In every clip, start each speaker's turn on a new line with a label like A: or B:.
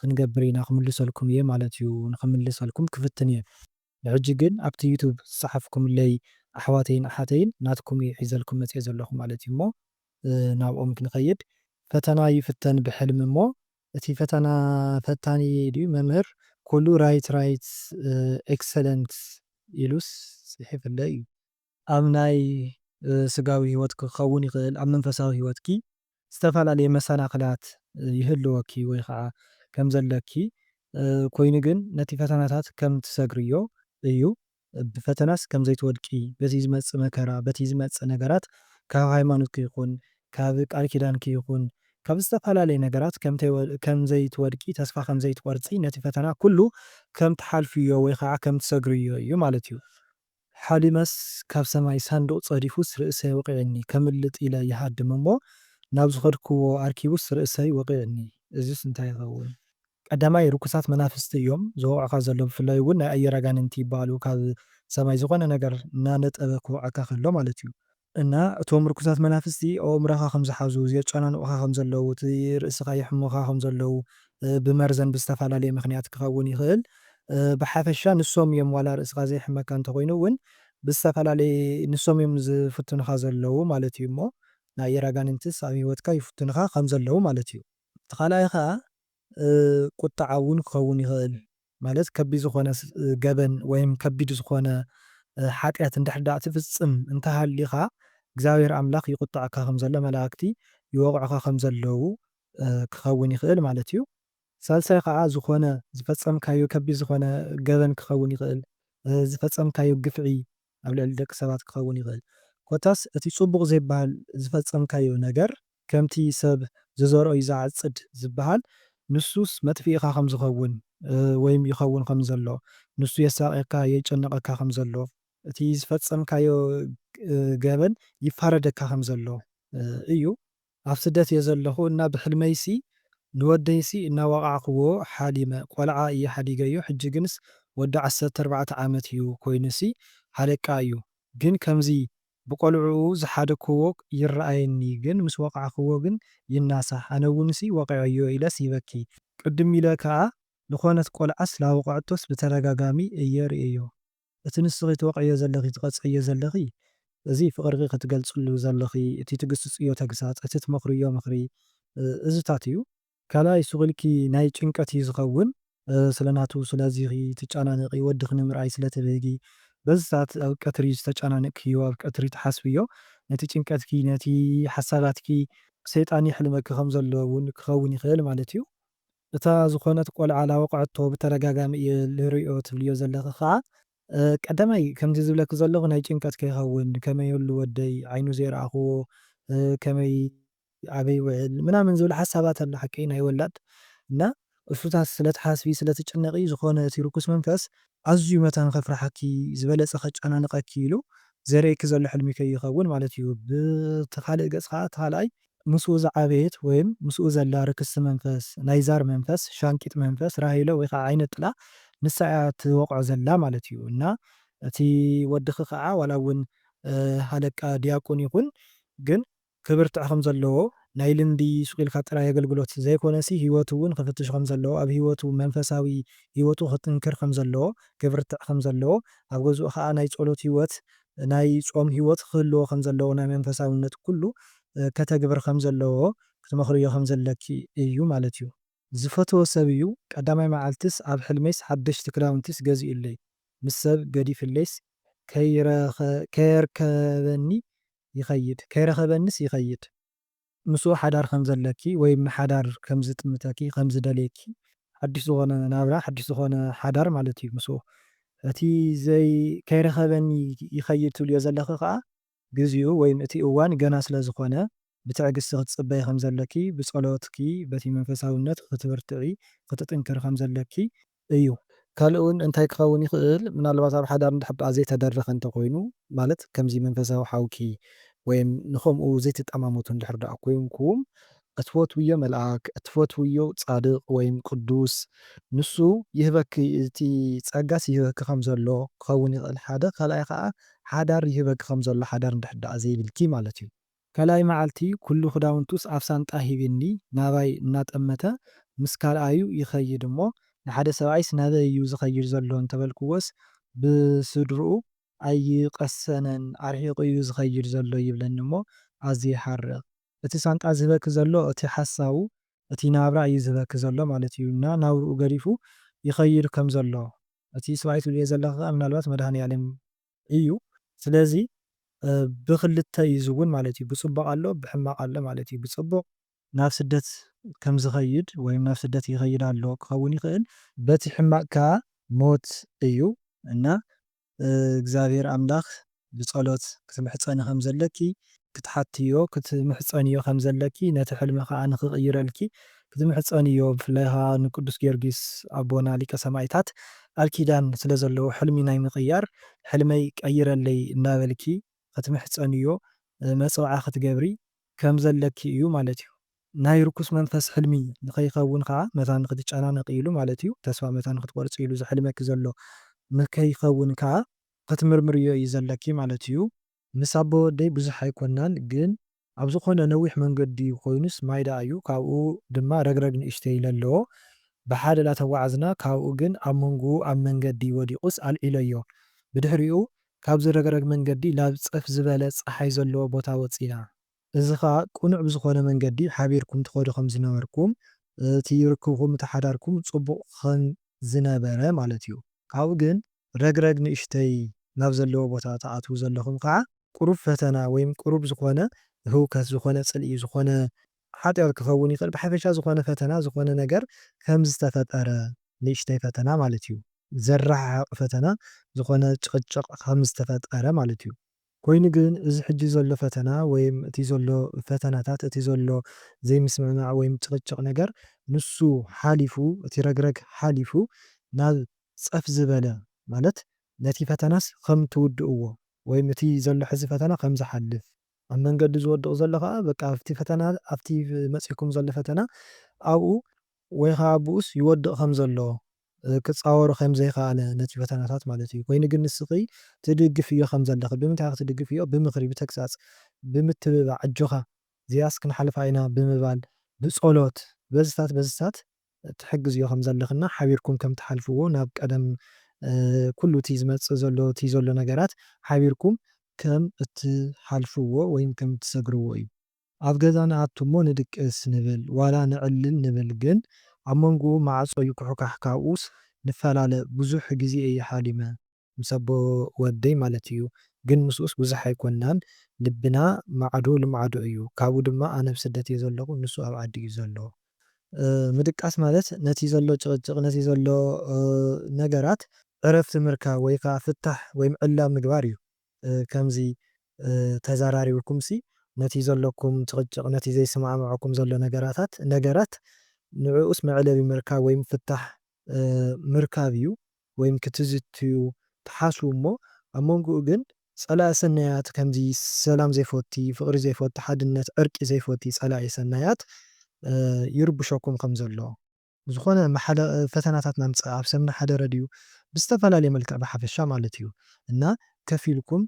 A: ክንገብር ኢና ክምልሰልኩም እየ ማለት እዩ ንክምልሰልኩም ክፍትን እየ ብሕጂ ግን ኣብቲ ዩቱብ ዝጸሓፍኩምለይ ኣሕዋተይን ኣሓተይን ናትኩም እዩ ሒዘልኩም መጽየ ዘለኹ ማለት እዩ እሞ ናብኦም ክንኸይድ ፈተና ይፍተን ብሕልሚ እሞ እቲ ፈተና ፈታኒ ድዩ መምህር ኩሉ ራይት ራይት ኤክሰለንት ኢሉስ ጽሒፍለይ እዩ። ኣብ ናይ ስጋዊ ህይወትኪ ክኸውን ይኽእል፣ ኣብ መንፈሳዊ ህይወትኪ ዝተፈላለየ መሰናኽላት ይህልወኪ ወይ ኸኣ ከም ዘለኪ፣ ኮይኑ ግን ነቲ ፈተናታት ከም ትሰግርዮ እዩ፣ ብፈተናስ ከም ዘይትወድቂ በቲ ዝመጽእ መከራ በቲ ዝመጽእ ነገራት ካብ ሃይማኖትኪ ይኹን ካብ ቃል ኪዳንኪ ይኹን ካብ ዝተፈላለየ ነገራት ከም ዘይትወድቂ ተስፋ ከም ዘይትቆርጺ ነቲ ፈተና ኩሉ ከም ትሓልፍዮ ወይ ኸኣ ከም ትሰግርዮ እዩ ማለት እዩ። ሓሊመስ ካብ ሰማይ ሳንዱቕ ጸዲፉስ ርእሰይ ወቒዕኒ ከምልጥ ኢለ ይሃድም እሞ ናብ ዝኸድክዎ ኣርኪቡስ ርእሰይ ወቒዕኒ እዚስ እንታይ ይኸውን። ቀዳማይ ርኩሳት መናፍስቲ እዮም ዝወቕዑኻ ዘለዉ ብፍላይ ውን ናይ ኣየር ኣጋንንቲ ይበሃሉ ካብ ሰማይ ዝኾነ ነገር እናነጠበ ክወቕዐካ ከሎ ማለት እዩ እና እቶም ርኩሳት መናፍስቲ ኣብ ኣእምሮኻ ከም ዝሓዙ፣ የጫናንቑኻ ከም ዘለዉ፣ እቲ ርእስኻ የሕምሙኻ ከም ዘለዉ፣ ብመርዘን ብዝተፈላለየ ምኽንያት ክኸውን ይኽእል። ብሓፈሻ ንሶም እዮም ዋላ ርእስኻ ዘየሕመካ እንተኾይኑ እውን ብዝተፈላለየ ንሶም እዮም ዝፍትኑኻ ዘለዉ ማለት እዩ እሞ ናይ ኣየር ኣጋንንትስ ኣብ ህይወትካ ይፍትኑኻ ከም ዘለዉ ማለት እዩ። እቲ ካልኣይ ኸኣ ቁጥዓ እውን ክኸውን ይኽእል። ማለት ከቢድ ዝኾነ ገበን ወይም ከቢድ ዝኾነ ሓጢኣት እንድሕር ደኣ ትፍጽም እንተ ሃሊኻ እግዚኣብሔር ኣምላኽ ይቁጠዐካ ከም ዘሎ መላእክቲ ይወቕዑኻ ከም ዘለዉ ክኸውን ይኽእል ማለት እዩ። ሳልሳይ ኸኣ ዝኾነ ዝፈጸምካዮ ከቢድ ዝኾነ ገበን ክኸውን ይኽእል፣ ዝፈጸምካዮ ግፍዒ ኣብ ልዕሊ ደቂ ሰባት ክኸውን ይኽእል ኮታስ እቲ ጽቡቕ ዘይብሃል ዝፈጸምካዮ ነገር ከምቲ ሰብ ዝዘርኦ እዩ ዝዓጽድ ዝብሃል ንሱስ መጥፍኢኻ ከም ዝኸውን ወይም ይኸውን ከም ዘሎ ንሱ የሳቕየካ የጨንቐካ ከም ዘሎ እቲ ዝፈጸምካዮ ገበን ይፋረደካ ከም ዘሎ እዩ ኣብ ስደት እየ ዘለኹ እና ብሕልመይሲ ንወደይሲ እናወቓዕክዎ ሓሊመ። ቆልዓ እየ ሓዲገዮ ሕጂ ግንስ ወዲ ዓሰርተ ኣርባዕተ ዓመት እዩ ኮይኑሲ ሃለቃ እዩ ግን ከምዚ ብቆልዕኡ ዝሓደክዎ ይረኣየኒ ግን ምስ ወቓዕክዎ ግን ይናሳሕ ኣነውንሲ ወቒዐዮ ኢለስ ይበኪ ቅድም ኢለ ከኣ ልኾነት ቆልዓስ ላወቐዐቶስ ብተደጋጋሚ እየ ርእየዮ። እቲ ንስኺ ትወቕዕዮ ዘለኺ ትቐጽዕዮ ዘለኺ እዚ ፍቕርኺ ክትገልጽሉ ዘለኺ እቲ ትግስጽዮ ተግሳጽ እቲ ትመኽርዮ ምኽሪ እዚታት እዩ። ካልኣይ ሱቕ ኢልኪ ናይ ጭንቀት እዩ ዝኸውን ስለ ናቱ ስለዚኺ ትጫናነቒ ወድኺ ንምርኣይ ስለ ትብህጊ በዚታት ኣብ ቀትሪ ዝተጫናነቕክዮ ኣብ ቀትሪ ትሓስብዮ ነቲ ጭንቀትኪ ነቲ ሓሳባትኪ ሰይጣን የሕልመኪ ከም ዘሎ ውን ክኸውን ይኽእል ማለት እዩ። እታ ዝኾነት ቆልዓ ላወቅዐቶ ብተደጋጋሚ እየ ልሪኦ ትብልዮ ዘለኺ ኸኣ ቀዳማይ ከምዚ ዝብለኪ ዘለኹ ናይ ጭንቀት ከይኸውን ከመይ ኣሉ ወደይ ዓይኑ ዘይረኣኽዎ ከመይ ኣበይ ውዕል ምናምን ዝብል ሓሳባት ኣሎ ሓቀይ ናይ ወላድ እና እሱታት ስለትሓስቢ ስለትጭነቒ ዝኾነ እቲ ርኩስ መንፈስ ኣዝዩ መታን ከፍርሓኪ ዝበለጸ ከጫናንቐኪ ኢሉ ዘርእየኪ ዘሎ ሕልሚ ከይኸውን ማለት እዩ ብቲ ካልእ ገጽ ኸኣ እቲ ካልኣይ ምስኡ ዝዓበየት ወይም ምስኡ ዘላ ርክስቲ መንፈስ፣ ናይ ዛር መንፈስ፣ ሻንቂጥ መንፈስ፣ ራሄሎ ወይ ኸዓ ዓይነ ጥላ ንሳ እያ ትወቕዖ ዘላ ማለት እዩ። እና እቲ ወድኺ ኸዓ ዋላ እውን ሃለቃ ዲያቁን ይኹን ግን ክብርትዕ ከም ዘለዎ ናይ ልምዲ ሱቕ ኢልካ ጥራይ ኣገልግሎት ዘይኮነሲ ህይወቱ እውን ክፍትሽ ከም ዘለዎ ኣብ ህይወቱ መንፈሳዊ ህይወቱ ክጥንክር ከም ዘለዎ ክብርትዕ ከም ዘለዎ ኣብ ገዝኡ ኸዓ ናይ ጸሎት ህይወት ናይ ጾም ሕይወት ኽህልዎ ኸም ዘለዎ ናይ መንፈሳውነት ኩሉ ከተግብር ኸም ዘለዎ ክትመኽርዮ ኸም ዘለኪ እዩ ማለት እዩ። ዝፈትዎ ሰብ እዩ ቀዳማይ መዓልትስ ኣብ ሕልመይስ ሓደሽቲ ክዳውንቲስ ገዚኡለይ ምስ ሰብ ገዲፍለይስ ከይረከበኒ ይኸይድ ከይረኸበንስ ይኸይድ። ምስኡ ሓዳር ከም ዘለኪ ወይ ንሓዳር ከም ዝጥምተኪ ከም ዝደልየኪ ሓድሽ ዝኾነ ናብራ ሓድሽ ዝኾነ ሓዳር ማለት እዩ ምስኡ እቲ ዘይ ከይረኸበኒ ይኸይድ ትብልዮ ዘለኺ ከኣ ግዚኡ ወይ እቲ እዋን ገና ስለ ዝኾነ ብትዕግስቲ ክትጽበዪ ከም ዘለኪ ብጸሎትኪ በቲ መንፈሳውነት ክትብርትዒ ክትጥንክሪ ከም ዘለኪ እዩ። ካልእ እውን እንታይ ክኸውን ይኽእል፣ ምናልባት ኣብ ሓዳር እንድሕር ደኣ ዘይተደረኸ እንተ ኾይኑ፣ ማለት ከምዚ መንፈሳዊ ሓውኪ ወይም ንኸምኡ ዘይትጠማመቱ እንድሕር ደኣ ኮይንኩም፣ እትፈትውዮ መልኣክ፣ እትፈትውዮ ጻድቕ ወይም ቅዱስ፣ ንሱ ይህበኪ፣ እቲ ጸጋስ ይህበኪ ከም ዘሎ ክኸውን ይኽእል፣ ሓደ። ካልኣይ ኸኣ ሓዳር ይህበኪ ከም ዘሎ ሓዳር እንድሕር ደኣ ዘይብልኪ ማለት እዩ። ካልኣይ መዓልቲ ኩሉ ክዳውንቱስ ኣብ ሳንጣ ሂቢኒ ናባይ እናጠመተ ምስ ካልኣዩ ይኸይድ እሞ ንሓደ ሰብኣይስ ናበይ እዩ ዝኸይድ ዘሎ እንተበልክዎስ ብስድርኡ ኣይቀሰነን ኣርሒቑ እዩ ዝኸይድ ዘሎ ይብለኒ እሞ ኣዝየ ይሓርቕ። እቲ ሳንጣ ዝህበኪ ዘሎ እቲ ሓሳቡ እቲ ናብራ እዩ ዝህበኪ ዘሎ ማለት እዩ እና ናብርኡ ገዲፉ ይኸይድ ከም ዘሎ እቲ ስብኣይ ትብልዮ ዘለኺ ከኣ ምናልባት መድሃኒኣለም እዩ ስለዚ ብክልተ እዩ ዝውን ማለት እዩ ብፅቡቅ ኣሎ ብሕማቅ ኣሎ ማለት እዩ ብፅቡቅ ናብ ስደት ከምዝከይድ ወይም ናብ ስደት ይከይድ ኣሎ ክከውን ይክእል። በቲ ሕማቅ ከኣ ሞት እዩ እና እግዚኣብሔር ኣምላክ ብፀሎት ክትምሕፀኒ ከምዘለኪ ክትሓትዮ ክትምሕጸንዮ ከም ዘለኪ ነቲ ሕልሚ ከኣ ንኽቕይረልኪ ክትምሕጸንዮ ብፍላይ ከኣ ንቅዱስ ጊዮርጊስ ኣቦና ሊቀ ሰማኢታት ቃል ኪዳን ስለ ዘለዎ ሕልሚ ናይ ምቕያር ሕልመይ ቀይረለይ እናበልኪ ክትምሕጸንዮ መጸውዓ ክትገብሪ ከም ዘለኪ እዩ ማለት እዩ። ናይ ርኩስ መንፈስ ሕልሚ ንኸይኸውን ከኣ መታን ንኽትጨናነቒ ኢሉ ማለት እዩ ተስፋ መታን ንኽትቆርጺ ኢሉ ዘሕልመኪ ዘሎ ንከይኸውን ከኣ ክትምርምርዮ እዩ ዘለኪ ማለት እዩ። ምስ ኣቦ ወደይ ብዙሕ ኣይኮናን ግን ኣብ ዝኾነ ነዊሕ መንገዲ ኮይኑስ ማይ ደኣ እዩ ካብኡ ድማ ረግረግ ንእሽተይ ኢለ ኣለዎ ብሓደ ዳተጓዓዝና ካብኡ ግን ኣብ መንጉኡ ኣብ መንገዲ ወዲቁስ ኣልዒለዮ ብድሕሪኡ ካብዚ ረግረግ መንገዲ ላብ ጽፍ ዝበለ ጸሓይ ዘለዎ ቦታ ወጺና እዚ ከኣ ቅኑዕ ብዝኾነ መንገዲ ሓቢርኩም ትኸዱ ከም ዝነበርኩም፣ እቲ ርክብኩም እቲ ሓዳርኩም ጽቡቕ ከም ዝነበረ ማለት እዩ። ካብኡ ግን ረግረግ ንእሽተይ ናብ ዘለዎ ቦታ ትኣትዉ ዘለኹም ከኣ ቅሩብ ፈተና ወይም ቅሩብ ዝኾነ ህውከት ዝኾነ ጽልኢ ዝኾነ ሓጢኣት ክኸውን ይኽእል ብሓፈሻ ዝኾነ ፈተና ዝኾነ ነገር ከም ዝተፈጠረ ንእሽተይ ፈተና ማለት እዩ። ዘረሓሕቕ ፈተና ዝኾነ ጭቕጭቕ ከም ዝተፈጠረ ማለት እዩ። ኮይኑ ግን እዚ ሕጂ ዘሎ ፈተና ወይም እቲ ዘሎ ፈተናታት እቲ ዘሎ ዘይምስምዕማዕ ወይም ጭቕጭቕ ነገር ንሱ ሓሊፉ እቲ ረግረግ ሓሊፉ ናብ ጸፍ ዝበለ ማለት ነቲ ፈተናስ ከም ትውድእዎ ወይም እቲ ዘሎ ሕዚ ፈተና ከም ዝሓልፍ ኣብ መንገዲ ዝወድቕ ዘሎ ከኣ በቃ ኣብቲ ፈተና ኣብቲ መጺእኩም ዘሎ ፈተና ኣብኡ ወይ ከኣ ኣብኡስ ይወድቕ ከም ዘሎ ክጻወሮ ከም ዘይከኣለ ነቲ ፈተናታት ማለት እዩ ኮይኑ ግን ንስኺ ትድግፍዮ ከም ዘለኺ ብምንታይ ክትድግፍዮ ብምኽሪ ብተግሳጽ ብምትብባዕ ኣጆኻ እዚኣስ ክንሓልፋ ኢና ብምባል ብጸሎት በዝታት በዝታት ትሕግዝዮ ከም ዘለኺ እና ሓቢርኩም ከም ትሓልፍዎ ናብ ቀደም ኩሉ እቲ ዝመጽእ ዘሎ እቲ ዘሎ ነገራት ሓቢርኩም ከም እትሓልፍዎ ወይም ከም እትሰግርዎ እዩ። ኣብ ገዛ ንኣቱ እሞ ንድቅስ ንብል ዋላ ንዕልል ንብል ግን ኣብ መንጉኡ ማዕጾ ይኩሕካሕ ካብኡስ ንፈላለ ብዙሕ ግዜ እየ ሓሊመ። ምስ ኣቦ ወደይ ማለት እዩ ግን ምስኡስ ብዙሕ ኣይኮናን ልብና ማዕዶ ልማዕዶ እዩ ካብኡ ድማ ኣነ ኣብ ስደት እየ ዘለኩ ንሱ ኣብ ዓዲ እዩ ዘሎ። ምድቃስ ማለት ነቲ ዘሎ ጭቅጭቅ ነቲ ዘሎ ነገራት ዕረፍቲ ምርካብ ወይ ከኣ ፍታሕ ወይ ዕላል ምግባር እዩ። ከምዚ ተዛራሪብኩምሲ ነቲ ዘሎኩም ጭቕጭቕ ነቲ ዘይስማዕምዖኩም ዘሎ ነገራታት ነገራት ንዕኡስ መዕለቢ ምርካብ ወይም ፍታሕ ምርካብ እዩ ወይም ክትዝትዩ ትሓስቡ እሞ ኣብ መንጉኡ ግን ጸላኢ ሰናያት ከምዚ ሰላም ዘይፎቲ ፍቕሪ ዘይፎቲ ሓድነት ዕርቂ ዘይፎቲ ጸላኢ ሰናያት ይርብሸኩም ከም ዘሎ ብዝኾነ እም ሓደ ፈተናታት ናምጽእ ኣብ ሰምና ሓደረ ድዩ ብዝተፈላለየ መልክዕ ብሓፈሻ ማለት እዩ እና ከፍ ኢልኩም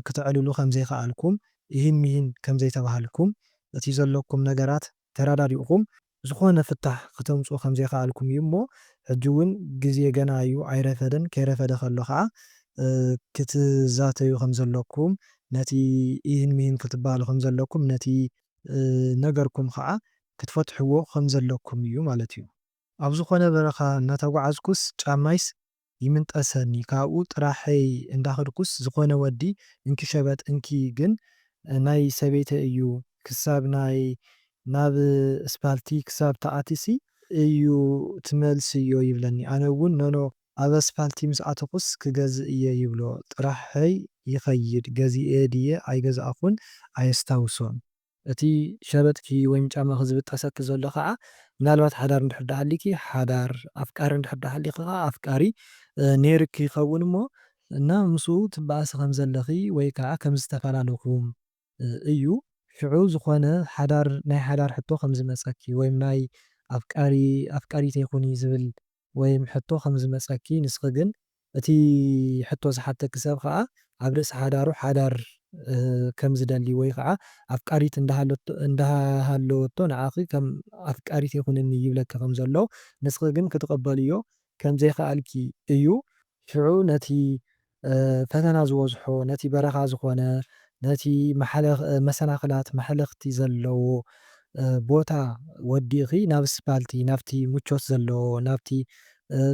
A: ክተዕልሉ ከምዘይከኣልኩም ኢሂን ሚሂን ከምዘይተባሃልኩም እቲ ዘለኩም ነገራት ተራዳዲእኹም ዝኾነ ፍታሕ ክተምጽኡ ከምዘይከኣልኩም እዩ እሞ ሕጂ ውን ግዜ ገና እዩ ኣይረፈደን ከይረፈደ ከሎ ከኣ ክትዛተዩ ከምዘለኩም ነቲ ኢሂን ሚሂን ክትበሃሉ ከምዘለኩም ነቲ ዝነገርኩም ከኣ ክትፈትሕዎ ከም ዘለኩም እዩ ማለት እዩ። ኣብ ዝኾነ በረኻ እናተጓዓዝኩስ ጫማይስ ይምንጠሰኒ ካብኡ ጥራሐይ እንዳኸድኩስ ዝኾነ ወዲ እንኪ ሸበጥ እንኪ ግን ናይ ሰበይተይ እዩ ክሳብ ናይ ናብ እስፓልቲ ክሳብ ትኣቲሲ እዩ ትመልስዮ ይብለኒ ኣነ እውን ኖኖ ኣብ ኣስፓልቲ ምስ ኣተኹስ ክገዝእ እየ ይብሎ ጥራሐይ ይኸይድ ገዚኤ ድየ ኣይገዛእኹን ኣየስታውሶን። እቲ ሸበጥኪ ወይም ጫማኺ ዝብጠሰኪ ዘሎ ከኣ ምናልባት ሓዳር እንድሕር ደኣ ሃልዩኪ ሓዳር፣ ኣፍቃሪ እንድሕር ደኣ ሃልዩኪ ከኣ ኣፍቃሪ ነይሩኪ ይኸውን እሞ እና ምስኡ ትበኣሲ ከም ዘለኺ ወይ ከኣ ከም ዝተፋላለኹም እዩ። ሽዑ ዝኾነ ሓዳር ናይ ሓዳር ሕቶ ከም ዝመጸኪ ወይም ናይ ኣፍቃሪ ኣፍቃሪተይ ኩኒ ዝብል ወይም ሕቶ ከም ዝመጸኪ ንስኺ ግን እቲ ሕቶ ዝሓተኪ ሰብ ኸኣ ኣብ ርእሲ ሓዳሩ ሓዳር ከም ዝደሊ ወይ ኸኣ ኣፍቃሪት እንዳሃለወቶ ንዓኺ ከም ኣፍቃሪተይ ኩንኒ ይብለኪ ከም ዘሎ ንስኺ ግን ክትቕበልዮ ከም ዘይከኣልኪ እዩ። ሽዑ ነቲ ፈተና ዝበዝሖ ነቲ በረኻ ዝኾነ ነቲ መሰናኽላት መሕለኽቲ ዘለዎ ቦታ ወዲእኺ ናብ እስፓልቲ ናብቲ ምቾት ዘለዎ ናብቲ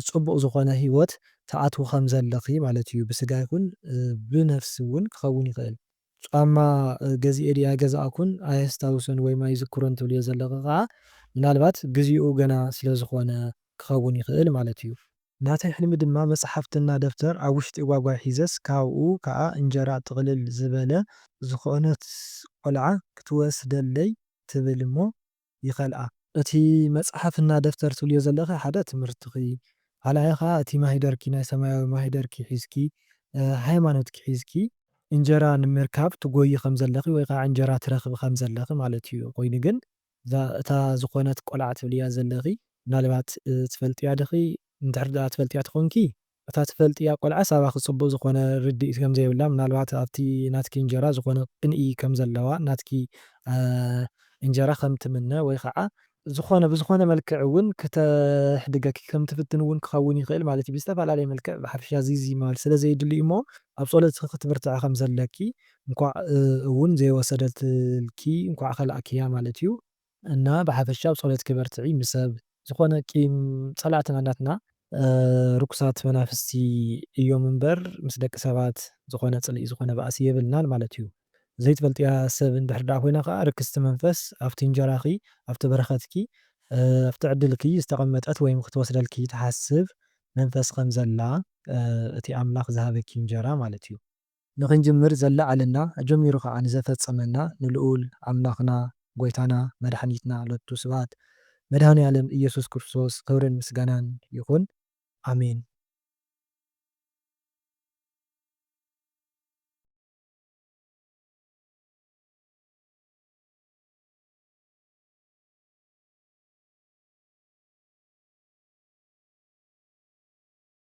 A: ጽቡቕ ዝኾነ ህይወት ትኣትዊ ከም ዘለኺ ማለት እዩ፣ ብስጋ ይኹን ብነፍሲ እውን ክኸውን ይኽእል። ጫማ ገዚኤ ድየ ኣይገዛእኩን ኣየስታውሶን ወይም ኣይዝክሮን ትብልዮ ዘለኺ ከኣ ምናልባት ግዜኡ ገና ስለ ዝኾነ ክኸውን ይኽእል ማለት እዩ። ናተይ ሕልሚ ድማ መጽሓፍትና ደብተር ኣብ ውሽጢ ጓጓይ ሒዘስ ካብኡ ከኣ እንጀራ ጥቕልል ዝበለ፣ ዝኾነት ቆልዓ ክትወስደለይ ትብል እሞ ይኸልኣ። እቲ መጽሓፍ እና ደፍተር ትብልዮ ዘለኺ ሓደ ትምህርትኺ፣ ካልኣይ ከኣ እቲ ማሂደርኪ ናይ ሰማያዊ ማሂደርኪ ሒዝኪ ሃይማኖትኪ ሒዝኪ እንጀራ ንምርካብ ትጎዪ ከም ዘለኺ ወይ ከኣ እንጀራ ትረኽቢ ከም ዘለኺ ማለት እዩ። ኮይኑ ግን እዛ እታ ዝኾነት ቆልዓ ትብልያ ዘለኺ ምናልባት ትፈልጥያ ዲኺ? እንድሕሪ ደኣ ትፈልጥያ ተኾንኪ እታ ትፈልጥያ ቆልዓስ ኣባኪ ጽቡቅ ዝኮነ ርዲኢት ከም ዘይብላ ምናልባት ኣብቲ ናትኪ እንጀራ ዝኮነ ቅንኢ ከም ዘለዋ ናትኪ እንጀራ ከም ትምነ ወይ ከኣ ዝኮነ ብዝኮነ መልክዕ ውን ክተሕድገኪ ከም ትፍትን ውን ክከውን ይክእል ማለት እዩ ብዝተፈላለየ መልክዕ ብሓፈሻ ዚዚ ምባል ስለ ዘይድሉ እዩ እሞ ኣብ ጾሎትኪ ክትብርትዒ ከም ዘለኪ እንኳዕ ውን ዘይወሰደትልኪ እንኳዕ ከላእክያ ማለት እዩ። እና ብሓፈሻ ኣብ ፆሎት ክበርትዒ ምስ ሰብ ዝኮነ ቂም ፀላእትና ናትና ርኩሳት መናፍስቲ እዮም እምበር ምስ ደቂ ሰባት ዝኮነ ፅልኢ ዝኮነ ባእሲ የብልናን ማለት እዩ ዘይትፈልጥያ ሰብ እንድሕር ዳኣ ኮይና ካዓ ርክስቲ መንፈስ ኣብቲ እንጀራኪ ኣብቲ በረከትኪ ኣብቲ ዕድልኪ ዝተቀመጠት ወይም ክትወስደልኪ ትሓስብ መንፈስ ከም ዘላ እቲ ኣምላክ ዝሃበኪ እንጀራ ማለት እዩ ንኽንጅምር ዘለዓለና ኣጀሚሩ ከኣ ንዘፈጸመና ንልኡል ኣምላኽና ጎይታና መድሓኒትና ሎቱ ስብሃት መድሃኒኣለም እየሱስ ክርስቶስ ክብርን ምስጋናን ይኹን ኣሜን።